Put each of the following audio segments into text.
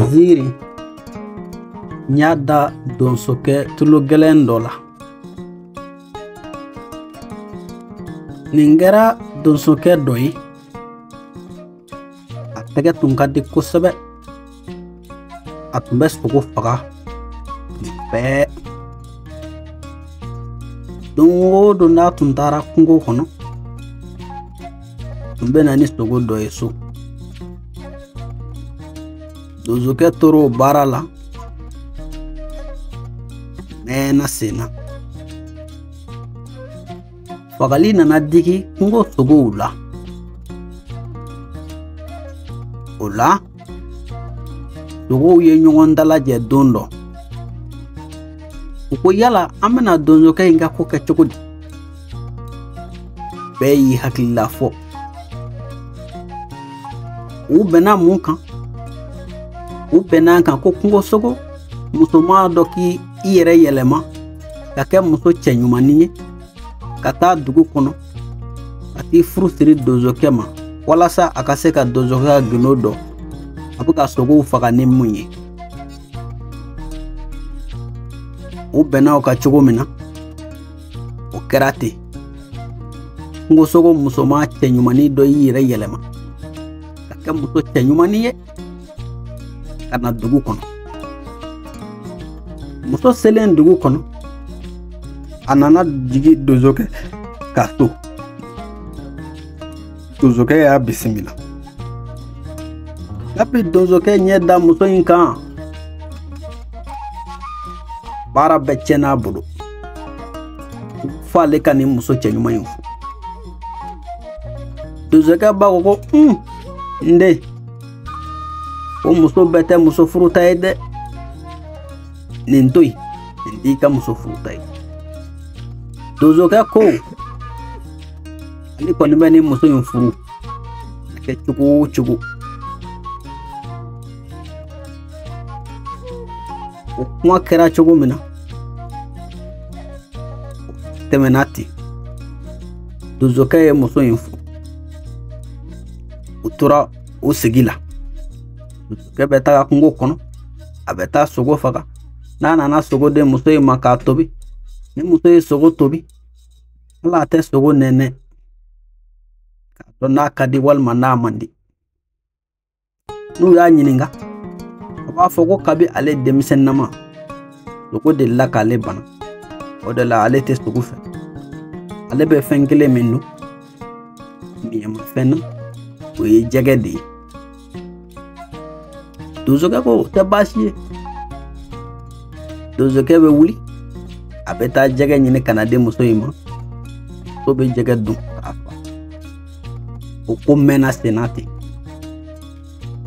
ziiri n y'a da donsokɛ tulogɛlɛn dɔ la nin kɛra donsokɛ dɔ ye a tɛgɛ tun ka di kosɛbɛ a tun bɛ sogo faga nin bɛɛ don o don n'a tun taara kungo kɔnɔ tun bɛ na ni sogo dɔ ye so donsokɛ tora o baara la mɛɛnna sen na fagali nana digi kungo sogow la o la sogow ye ɲɔgɔn dalajɛ don dɔ u ko yala an bɛna donsokɛ in ka ko kɛ cogo di bɛɛ y'i hakilila fɔ u bɛnna mun kan u bɛnna a kan ko kungosogo musoman dɔ k'i yɛrɛ yɛlɛma ka kɛ muso cɛɲumannin ye ka taa dugu kɔnɔ ka t'i furu siri donsokɛ ma walasa a ka se ka donsokɛ ka gindo dɔn a bɛ ka sogow faga ni mun ye u bɛnna o kan cogo min na o kɛra ten kungosogo musoman cɛɲumannin dɔ y'i yɛrɛ yɛlɛma ka kɛ muso cɛɲumannin ye ka na dugu kɔnɔ muso selen dugu kɔnɔ a nana jigi donsokɛ ka so Donsokɛ y'a bisimila. Kabi donsokɛ ɲɛ da muso in kan. Baara bɛɛ tiɲɛna a bolo. Fo ale ka nin muso cɛɲuman in furu. Donsokɛ ba ko ko un n den o muso bɛɛ tɛ muso furuta ye dɛ. Nin to yen nin t'i ka muso furuta ye. Donsokɛ ko. ale kɔni bɛ nin muso in furu a kɛ cogo o cogo o kuma kɛra cogo min na tɛmɛna ten donsokɛ ye muso in furu u tora o sigi la donsokɛ bɛ taga kungo kɔnɔ a bɛ taa sogo faga n'a nana sogo di muso in ma k'a tobi ni muso ye sogo tobi hali a tɛ sogo nɛnɛ k'a dɔn n'a ka di walima n'a man di n'u y'a ɲininka a b'a fɔ ko kabi ale denmisɛnnama sogo delila k'ale bana o de la ale tɛ sogo fɛ ale bɛ fɛn kelen min dun miyɛmafɛn na o ye jɛgɛ de ye donsokɛ ko o tɛ baasi ye donsokɛ bɛ wuli a bɛ taa jɛgɛ ɲini ka na di muso in ma muso bɛ jɛgɛ dun k'a fa o ko mɛnna senna ten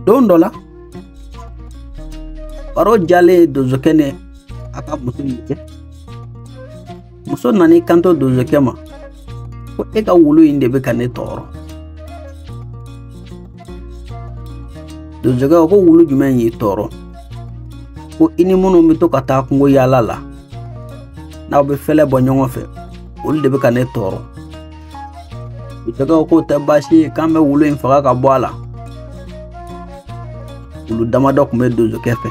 don dɔ la baro diyalen donsokɛ ni a ka muso in cɛ muso nana i kanto donsokɛ ma ko e ka wulu in de bɛ ka ne tɔɔrɔ donsokɛ ko wulu jumɛn y'i tɔɔrɔ ko i ni minnu bɛ to ka taa kungo yaala la n'aw bɛ fɛlɛ bɔ ɲɔgɔn fɛ olu de bɛ ka ne tɔɔrɔ donsokɛ k'o tɛ baasi ye k'an bɛ wulu in faga ka bɔ a la wulu damadɔ tun bɛ donsokɛ fɛ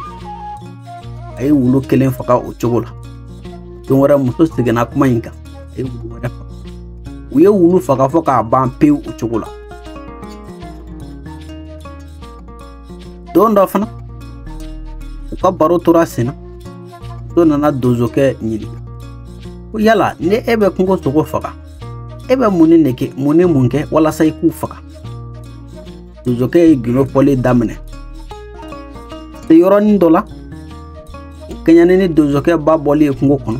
a ye wulu kelen faga o cogo la don wɛrɛ muso seginna kuma in kan a ye wulu wɛrɛ faga u ye wulu faga fɔ k'a ban pewu o cogo la don dɔ fana u ka baro tora sen na muso nana donsokɛ ɲininka ko yala ni e bɛ kungo sogo faga e bɛ mun ni nege mun ni mun kɛ walasa i k'u faga donsokɛ ye gindo fɔli daminɛ se yɔrɔnin dɔ la kɛɲɛni ni donsokɛ ba bɔli ye kungo kɔnɔ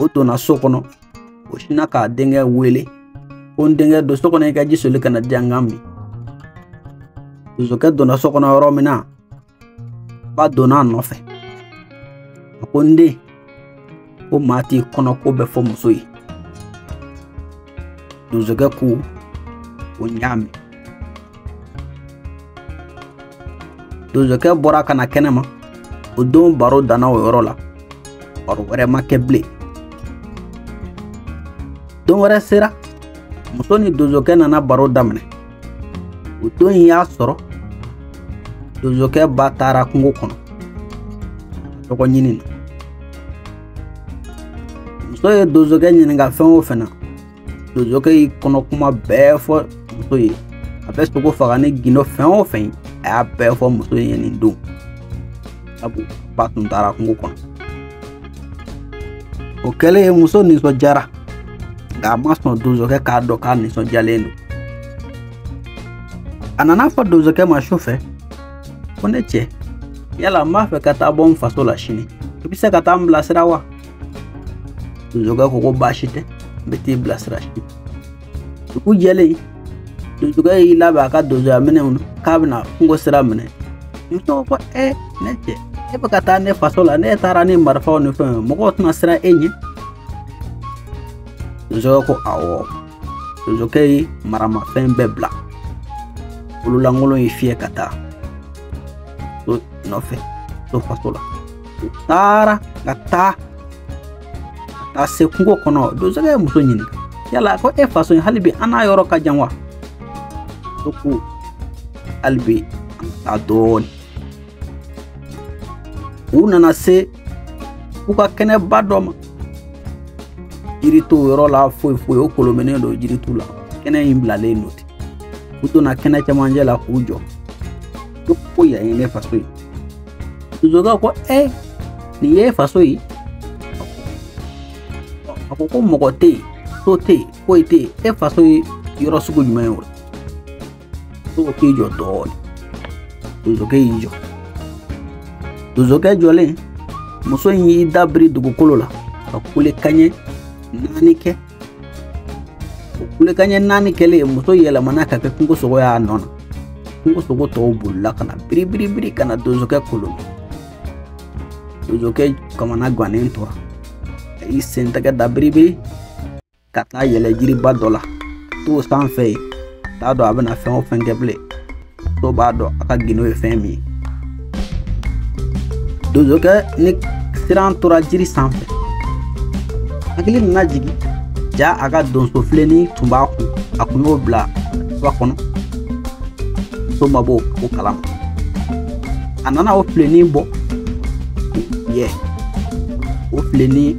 o donna so kɔnɔ o sinna k'a denkɛ wele ko n denkɛ don so kɔnɔ i ka ji soli ka na di yan n k'a min donsokɛ donna so kɔnɔ yɔrɔ min na ba donna a nɔfɛ a ko n den ko maa t'i kɔnɔko bɛɛ fɔ muso ye donsokɛ ko o n y'a mɛn donsokɛ bɔra ka na kɛnɛ ma o don baro danna o yɔrɔ la baro wɛrɛ ma kɛ bilen don wɛrɛ sera muso ni donsokɛ nana baro daminɛ o don in y'a sɔrɔ donsokɛ ba taara kungo kɔnɔ dɔgɔ ɲini na muso ye donsokɛ ɲininka fɛn o fɛn na donsokɛ y'i kɔnɔ kuma bɛɛ fɔ muso ye a bɛ sogo faga ni gindo fɛn o fɛn ye a y'a bɛɛ fɔ muso ye nin don sabu ba tun taara kungo kɔnɔ o kɛlen muso nisɔndiyara nka a ma sɔn donsokɛ k'a dɔn k'a nisɔndiyalen don a nana a fɔ donsokɛ ma su fɛ ko ne cɛ yala n b'a fɛ ka taa bɔ n faso la sini i bɛ se ka taa n bilasira wa donsokɛ ko ko baasi tɛ n bɛ t'i bilasira sini dugu jɛlen donsokɛ y'i labɛn a ka donsoya minɛnw na k'a bɛna kungo sira minɛ muso ko ɛ ne cɛ e bɛ ka taa ne faso la n'e taara ni marifaw ni fɛnw ye mɔgɔw tɛna siran e ɲɛ donsokɛ ko awɔ donsokɛ ye maramafɛn bɛɛ bila bololankolon ye fiyɛ ka taa muso nɔfɛ muso faso la u taara ka taa ka taa se kungo kɔnɔ donsokɛ ye muso ɲininka yala ko e faso hali bi an n'a yɔrɔ ka jan wa muso ko hali bi an ka taa dɔɔni u nana se fuga kɛnɛba dɔ ma jiri t'o yɔrɔ la foyi foyi o kolomennen don jiritu la kɛnɛ in bilalen don ten u donna kɛnɛ cɛmancɛ la k'u jɔ ko ko yan ye ne faso ye donsokɛ ko ɛ nin ye faso ye a ko ko mɔgɔ tɛ yen so tɛ yen foyi tɛ yen e faso ye yɔrɔ sugu jumɛn ye o la donsokɛ i jɔ donsokɛ y'i jɔ donsokɛ jɔlen muso in y'i da biri dugukolo la ka kulekan ɲɛ naani kɛ o kulekan ɲɛ naani kɛlen muso yɛlɛmana ka kɛ kungo sogo y'a nɔ na kungo sogo tɔw bolila ka na biribiribiri ka na donsokɛ kolo donsokɛ kamana gannen tora a y'i sen tɛgɛ da biribiri ka taa yɛlɛ jiriba dɔ la to sanfɛ yen a t'a dɔn a bɛna fɛn o fɛn kɛ bilen muso b'a dɔn a ka gundo ye fɛn min ye donsokɛ ni siran tora jiri sanfɛ hakili nana jigin ja a ka donso filenin tun b'a kun a kun y'o bila jufa kɔnɔ muso ma bɔ o kalama a nana o filenin bɔ ye o filenin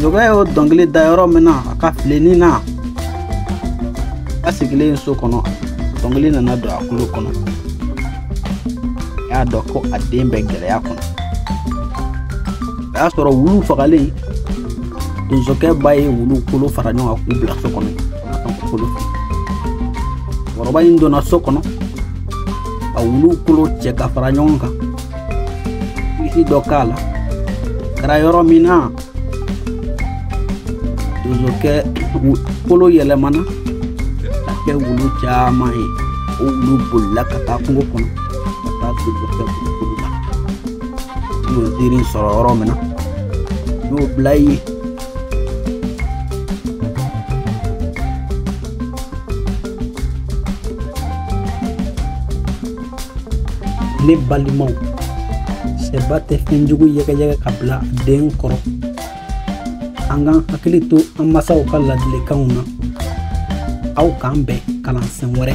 zokɛ y'o dɔnkili da yɔrɔ min na a ka filenin na a ba sigilen so kɔnɔ dɔnkili nana don a kulo kɔnɔ a y'a dɔn ko a den bɛ gɛlɛya kɔnɔ o y'a sɔrɔ wulu fagalen donsokɛ ba ye wulu kolo fara ɲɔgɔn kan k'u bila so kɔnɔ musokɔrɔba in donna so kɔnɔ ka wulu kolo cɛ ka fara ɲɔgɔn kan kilisi dɔ k'a la kɛra yɔrɔ min na donsokɛ kolo yɛlɛmana ka kɛ wulu caman ye o wulu bolila ka taa kungo kɔnɔ ka taa donsokɛ kulukulu la n y'o nsiirin sɔrɔ yɔrɔ min na n y'o bila yen ne balimaw sɛba tɛ fɛn jugu yɛgɛyɛgɛ ka bila den kɔrɔ an k'an hakili to an masaw ka ladilikanw na aw k'an bɛn kalansen wɛrɛ